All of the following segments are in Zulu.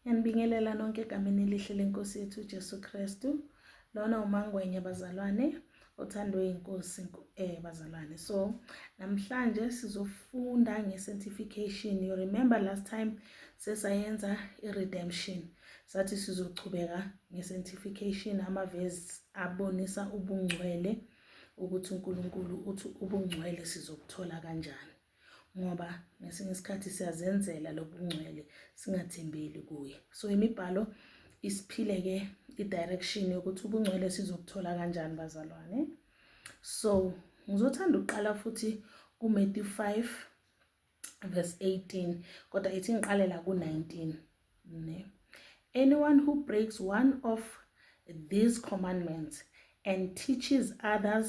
Ngiyanibingelela nonke egameni elihle lenkosi yethu uJesu Kristu. Lona umangwenya bazalwane othandwe inkosi eh bazalwane. So namhlanje sizofunda ngesanctification. You remember last time sesayenza iredemption. Sathi sizochubeka ngesanctification amavesi abonisa ubungcwele ukuthi uNkulunkulu uthi ubungcwele sizokuthola kanjani. ngoba ngesinye isikhathi siyazenzela lobungcwele singathembeli kuye so imibhalo isiphile ke i-direction yokuthi ubungcwele sizokuthola kanjani bazalwane so ngizothanda ukuqala futhi kuMatthew 5 verse 18 kodwa ithi ngiqalela ku-19 ne anyone who breaks one of these commandments and teaches others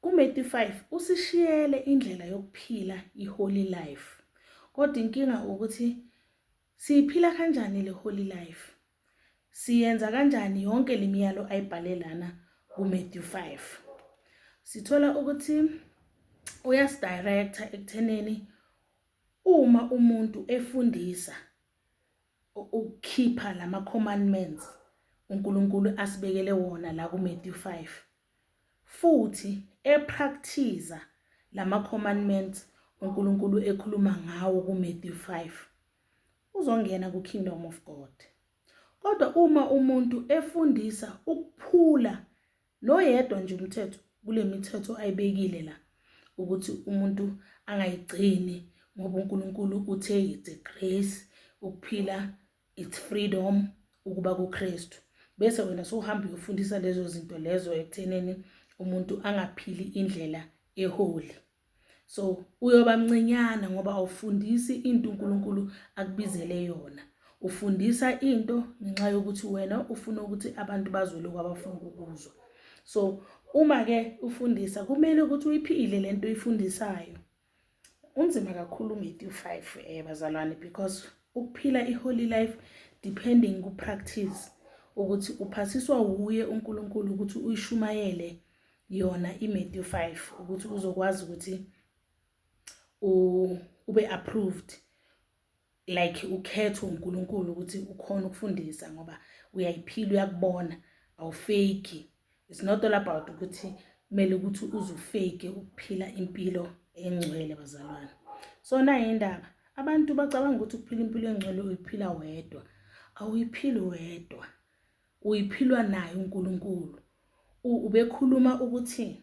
Kumethi 5 usishiyele indlela yokuphila iholy life. Kodwa inkinga ukuthi siyiphila kanjani le holy life? Siyenza kanjani yonke lemiyalo ayibhale lana kuMatthew 5? Sithola ukuthi uyasidirector ekutheneni uma umuntu efundisa ukukhipha lama commandments uNkulunkulu asibekele wona la kuMatthew 5 futhi eprakthiza lamacommandments uNkulunkulu ekhuluma ngawo kuMatthew 5, uzongena kuKingdom of God. Kodwa uma umuntu efundisa ukuphula noyedwa nje umthetho kulemithetho ayibekile la ukuthi umuntu angayigcini ngoba uNkulunkulu uthe it's a grace ukuphila it's freedom ukuba kuKristu bese wena sohamba uyofundisa lezo zinto lezo ekutheneni umuntu angaphili indlela eholi so uyoba mncinyana ngoba awufundisi into uNkulunkulu akubizele yona ufundisa into ngenxa yokuthi wena ufuna ukuthi abantu bazwe lokho abafuna ukuzwa so uma ke ufundisa kumele ukuthi uyiphile lento oyifundisayo unzima kakhulu uMethi u-5 um eh, bazalwane because ukuphila i-holy life depending ku-practice ukuthi uphasiswa wuye uNkulunkulu ukuthi uyishumayele yona iMethi u-5 ukuthi uzokwazi ukuthi ube approved like ukhethwe uNkulunkulu ukuthi ukhona ukufundisa ngoba uyayiphila uyakubona awufeki it's not all about ukuthi kumele ukuthi uzufeke ukuphila impilo engcwele bazalwane so nayo indaba abantu bacabanga ukuthi ukuphila impilo engcwele uyiphila wedwa awuyiphili wedwa uyiphilwa naye uNkulunkulu ubekhuluma ukuthi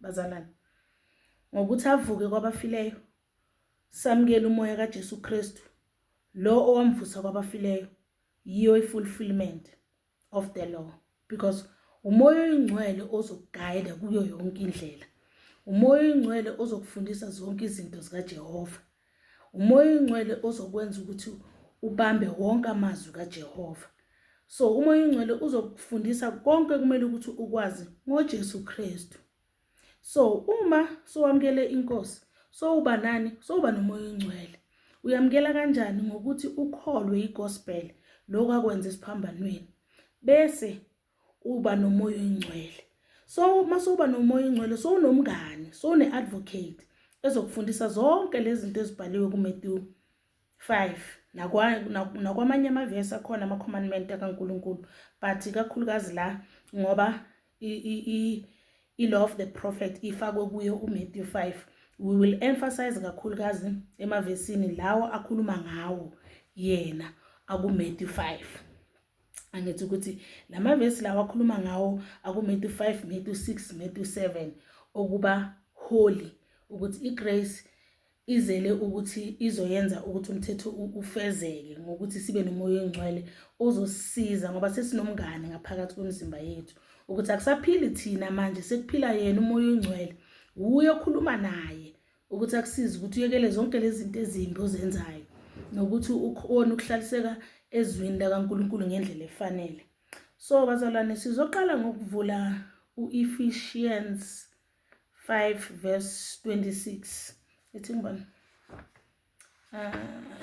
bazalwane ngokuthi avuke kwabafileyo samukele umoya kaJesu Kristu lo owamvusa kwabafileyo yiyo ifulfillment of the law because umoya oyingcwele ozokuguide kuyo yonke indlela umoya oyingcwele ozokufundisa zonke izinto zikaJehova Umoya oyingcwele ozokwenza ukuthi ubambe wonke amazwi kaJehova. So umoya oyingcwele uzokufundisa konke kumele ukuthi ukwazi ngoJesu Kristu. So uma sowamukele inkosi sowuba nani sowuba nomoya oyingcwele. Uyamukela kanjani ngokuthi ukholwe igospel lokho akwenza esiphambanweni. Bese uba nomoya oyingcwele so uma sowuba nomoya oyingcwele sowunomngani sowune-advocate ezokufundisa zonke lezi zinto ezibhaliwe kuMetewu 5 nakwamanye amavesi akhona ama-commandment akaNkulunkulu but ikakhulukazi la ngoba i-law of the prophet ifakwe kuyo uMetewu 5 we will emphasize kakhulukazi emavesini lawo akhuluma ngawo yena akuMetewu 5 angithi ukuthi lamavesi lawa akhuluma ngawo akuMetu 5 Metu 6 Metu 7 okuba holy ukuthi igrace izele ukuthi izoyenza ukuthi umthetho ufezeke ngokuthi sibe nomoya oyingcwele ozosisiza ngoba sesinomngane ngaphakathi kwemizimba yethu ukuthi akusaphili thina manje sekuphila yena umoya oyingcwele wuye okhuluma naye ukuthi akusize ukuthi uyekele zonke lezi zinto ezimbi ozenzayo nokuthi ukhona ukuhlaliseka ezwini lakaNkulunkulu ngendlela efanele so bazalwane sizoqala ngokuvula u-Ephesians 5 verse 26 ethi ngibani ah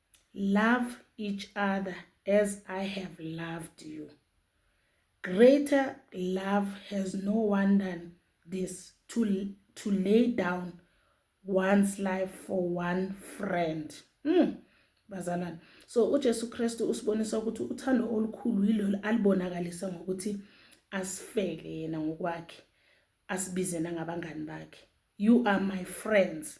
love each other as i have loved you greater love has no one than this to, to lay down one's life for one friend mm. bazalwane so ujesu kristu usibonisa ukuthi uthando olukhulu yilolo alibonakalisa ngokuthi asifele yena ngokwakhe asibizena ngabangani bakhe you are my friends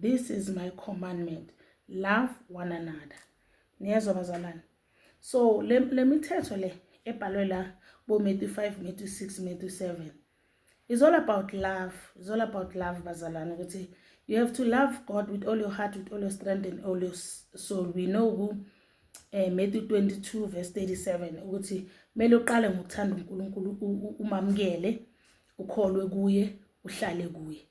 this is my commandment love one another niyezwa bazalwane so le, le mithetho le ebhalwe la bo-matthew 5 matthew 6 matthew 7 is all about love is all about love bazalwane ukuthi you have to love god with all your heart with all your strength and all your soul we know who eh Matthew 22 verse 37 ukuthi kumele uqale ngokuthanda uNkulunkulu umamukele ukholwe kuye uhlale kuye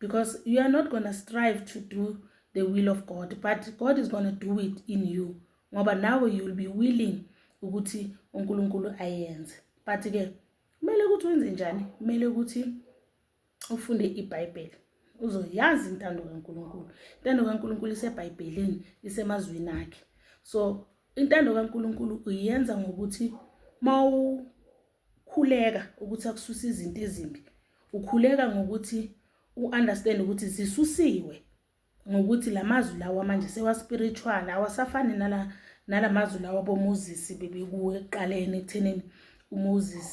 because you are not gonna strive to do the will of god but god is gonna do it in you ngoba nawe you will be willing ukuthi unkulunkulu ayenze but-ke kumele ukuthi wenze njani kumele ukuthi ufunde ibhayibheli uzoyazi intando kankulunkulu intando kankulunkulu isebhayibhelini isemazwini akhe so intando kaNkuluNkulu uyenza ngokuthi mawu Khuleka ukuthi akususe izinto ezimbi. Ukhuleka ngokuthi u-understand ukuthi zisusiwe ngokuthi la mazwi lawa manje sewa-spiritual awasafani nala nala mazwi lawa boMoses bebekuwo ekuqaleni ekuthenini uMoses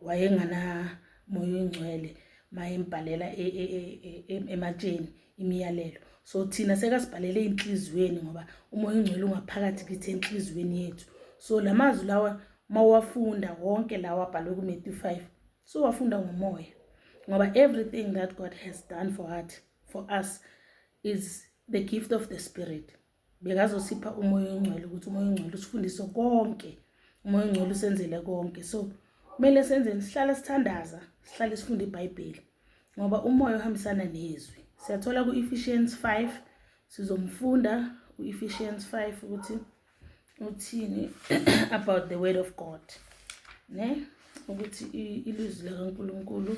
wayenganamoya oyingcwele mayembhalela e, e, e, ematsheni imiyalelo so thina sekasibhalele enhliziyweni ngoba umoya ongcwele ungaphakathi kithi enhliziyweni yethu so la mazwi lawa mawafunda wonke lawa abhalwe kuMatthew 5 so wafunda ngomoya ngoba everything that God has done for us for us is the gift of the spirit bekazosipha umoya oyingcwele ukuthi umoya oyingcwele usifundise konke umoya oyingcwele usenzele konke so kumele senzeni sihlale sithandaza sihlale sifunde ibhayibheli ngoba umoya ohambisana nezwi siyathola ku-ephesians 5 sizomfunda u-ephesians 5 ukuthi uthini about the word of god ne ukuthi ilizwi likankulunkulu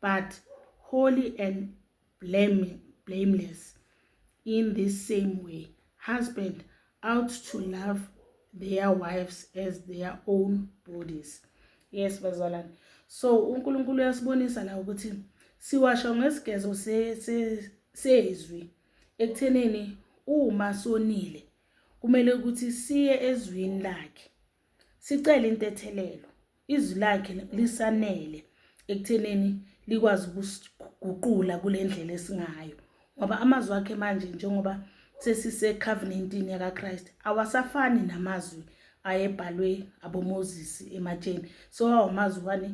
but holy and blame, blameless in this same way husband out to love their wives as their own bodies yes bazalwane so unkulunkulu uyasibonisa la ukuthi siwasho ngesigezo sezwi ekuthenini uma sonile kumele ukuthi siye ezwini lakhe sicela intethelelo izwi lakhe lisanele ekuthenini likwazi ukusiguqula kule ndlela esingayo ngoba amazwi akhe manje njengoba sesisecovenantini yakakhrist awasafani namazwi ayebhalwe abomoses ematsheni so awamazwi wani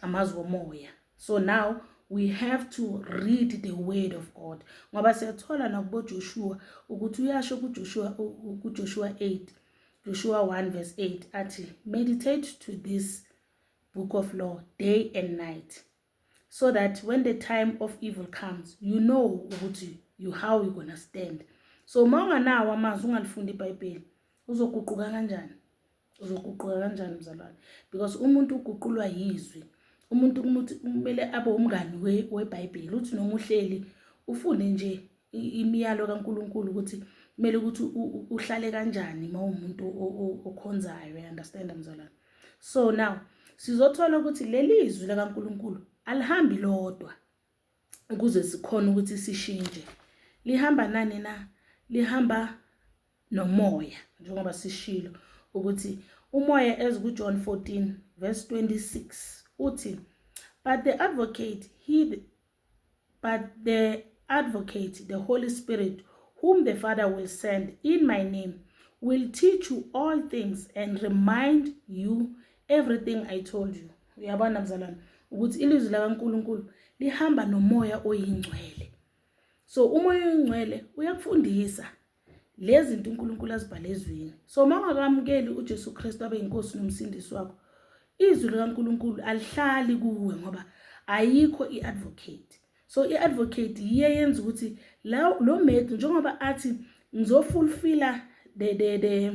amazwi omoya so now we have to read the word of god ngoba siyathola nakubojoshua ukuthi uyasho kujoshua kujoshua 8 joshua 1 verse 8 athi meditate to this book of law day and night so that when the time of evil comes you know ukuthi you how you gonna stand so uma unganawo amazwi ungalifundi ibhayibheli uzoguquka kanjani uzoguquka kanjani mzalwane because umuntu uguqulwa yizwi umuntu kumuthi kumele abe umngani webhayibheli uthi noma uhleli ufunde nje imiyalo kaNkuluNkulu ukuthi kumele ukuthi uhlale kanjani uma umuntu okhonzayo understand mzalwane so now sizothola ukuthi leli izwi lakaNkuluNkulu alihambi lodwa ukuze sikhona ukuthi sishintshe lihamba nani na lihamba nomoya njengoba sishilo ukuthi umoya as ku John 14 verse 26 uthi but the advocate he but the advocate the holy spirit whom the father will send in my name will teach you all things and remind you everything i told you uyabona mzalwane ukuthi ilizwi lakaNkuluNkulu lihamba nomoya oyingcwele so umoya oyingcwele uyakufundisa lezi zinto uNkulunkulu azibhale ezwini so uma ungakamukeli uJesu Kristu abe inkosi nomsindisi wakho izwi likaNkuluNkulu alihlali kuwe ngoba ayikho iadvocate so iadvocate yiye yenza ukuthi la lo mate njengoba athi ngizofulfilla the the the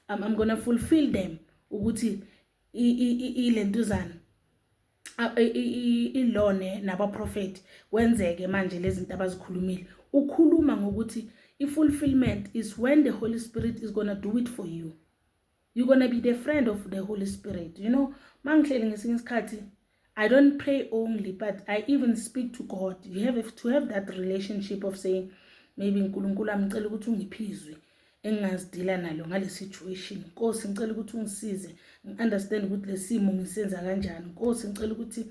I'm, I'm going to fulfill them ukuthi ilentuzana ilone nabaprofethi kwenzeke manje lezinto abazikhulumile ukhuluma ngokuthi i-fulfillment is when the holy spirit is gonna do it for you you're gonna be the friend of the holy spirit you know mangihleli ngesinye isikhathi I don't pray only, but I even speak to God. You have to have that relationship of saying, maybe uNkulunkulu amcela ukuthi ungiphizwe engingazidila nalo ngale situation. Nkosi ngicela ukuthi ungisize, ngiunderstand ukuthi lesimo ngisenza kanjani. Nkosi ngicela ukuthi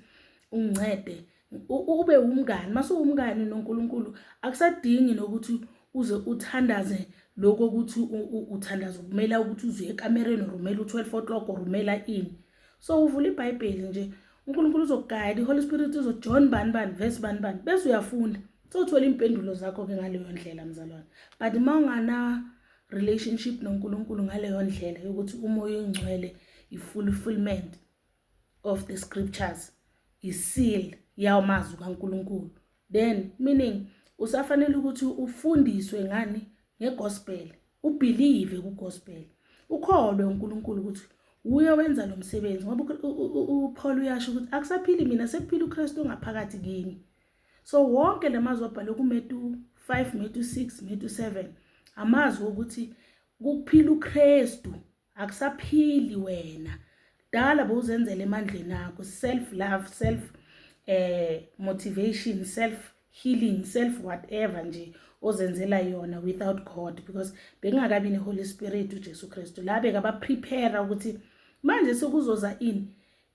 ungincede. Ube umngani, mase umngani noNkulunkulu akusadingi nokuthi uze uthandaze lokho ukuthi uthandaza ukumela ukuthi uzuye ekamereni or umela u-12 o'clock or umela ini. so uvula ibhayibheli nje unkulunkulu uzokuguide i-holy spirit uzojohn bani bani vesi bani bani bese uyafunda sothola iy'mpendulo zakho-ke ngaleyo ndlela mzalwane but uma ungana relationship nonkulunkulu ngaleyo ndlela yokuthi umoya oyingcwele i-fulfillment of the scriptures iseal yawamazwi kankulunkulu then meaning usafanele ukuthi ufundiswe ngani ngegospel ubelieve kugospel ukholwe uNkulunkulu ukuthi uye wenza lo msebenzi ngoba uPaul uyasho ukuthi akusaphili mina sekuphila uKristu ongaphakathi kimi so wonke lamazwi abhalwe kuMetu 5 Metu 6 Metu 7 amazwi okuthi kuphila uKristu akusaphili wena dala bowuzenzela emandleni akho self love self eh motivation self healing self whatever nje ozenzela yona without god because bekungakabi neholy spirit ujesu kristu la bekabaprepare ukuthi manje sekuzoza ini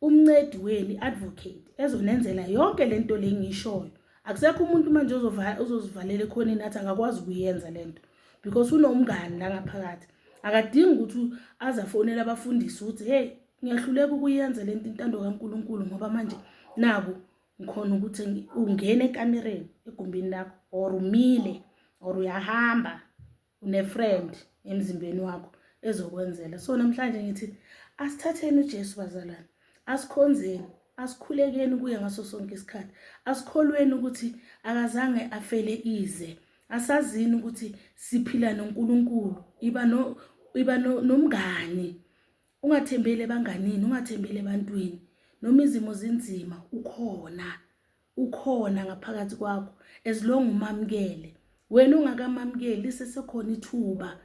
umncedi wenu i-advocate ezonenzela yonke le nto le ngiyishoyo akusekho umuntu manje ozozivalela ekhoneni athi akakwazi ukuyenza le nto because unomngani la ngaphakathi akadingi ukuthi aze afonele abafundisi ukuthi heyi ngiyahluleka ukuyenza le nto intando kankulunkulu ngoba manje naku ngikhona ukuthi ungene ekamereni egumbini lakho or umile or uyahamba unefriend emzimbeni wakho ezokwenzela so namhlanje ngithi asithatheni uJesu bazalwane asikhonzeni asikhulekeni kuye ngaso sonke isikhathi asikholweni ukuthi akazange afele ize asazini ukuthi siphila noNkulunkulu iba no iba nomngani ungathembeli ebanganini ungathembeli ebantwini noma izimo zinzima ukhona ukhona ngaphakathi kwakho as long umamukele wena ungakamamukeli lisesekhona ithuba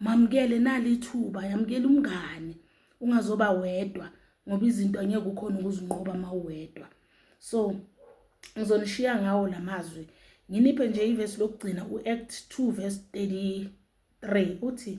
mamukele nali ithuba yamukela umngane ungazoba wedwa ngoba izinto angeke ukhona ukuzinqoba mawedwa so ngizonishiya ngawo lamazwi nginiphe nje ivesi lokugcina uAct 2 verse 33 uthi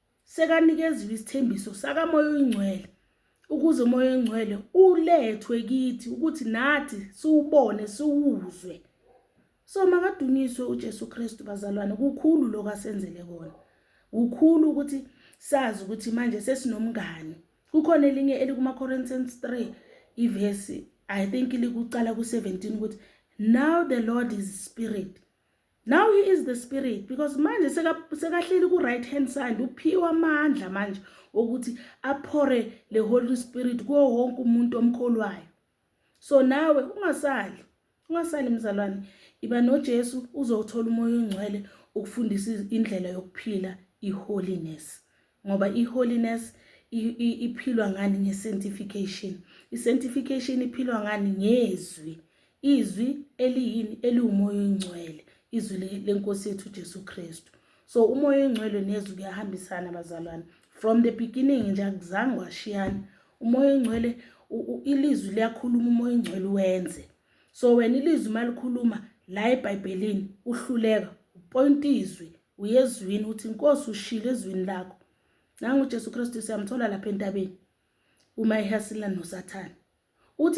sekanikeziwe isithembiso sakamoya oyingcwele ukuze umoya oyingcwele ulethwe kithi ukuthi nathi siwubone siwuzwe so makadunyiswe uJesu Kristu bazalwane kukhulu lokho asenzele kona kukhulu ukuthi sazi ukuthi manje sesinomngani kukhona elinye elikuma Corinthians 3 ivesi i think likucala ku17 ukuthi now the lord is spirit now he is the spirit because manje sekahleli ku-right hand side uphiwa amandla manje okuthi aphore le holy spirit kuwo wonke umuntu omkholwayo so nawe ungasali ungasali mzalwane iba nojesu uzowuthola umoya ongcwele ukufundisa indlela yokuphila i-holiness ngoba i-holiness iphilwa ngani nge-sanctification i-sanctification iphilwa ngani ngezwi izwi eliyini eliwumoya oyingcwele izwi lenkosi yethu ujesu kristu so umoya oyingcwele nezwi kuyahambisana bazalwane from the beginning nje akuzange washiyana umoya oyingcwele ilizwi liyakhuluma umoya oyingcwele wenze so wena ilizwi uma likhuluma la ebhayibhelini uhluleka upoyinta izwi uyezwini uthi inkosi ushilo ezwini lakho nangu uJesu Kristu siyamthola lapha entabeni uma ehasila noSathane uthi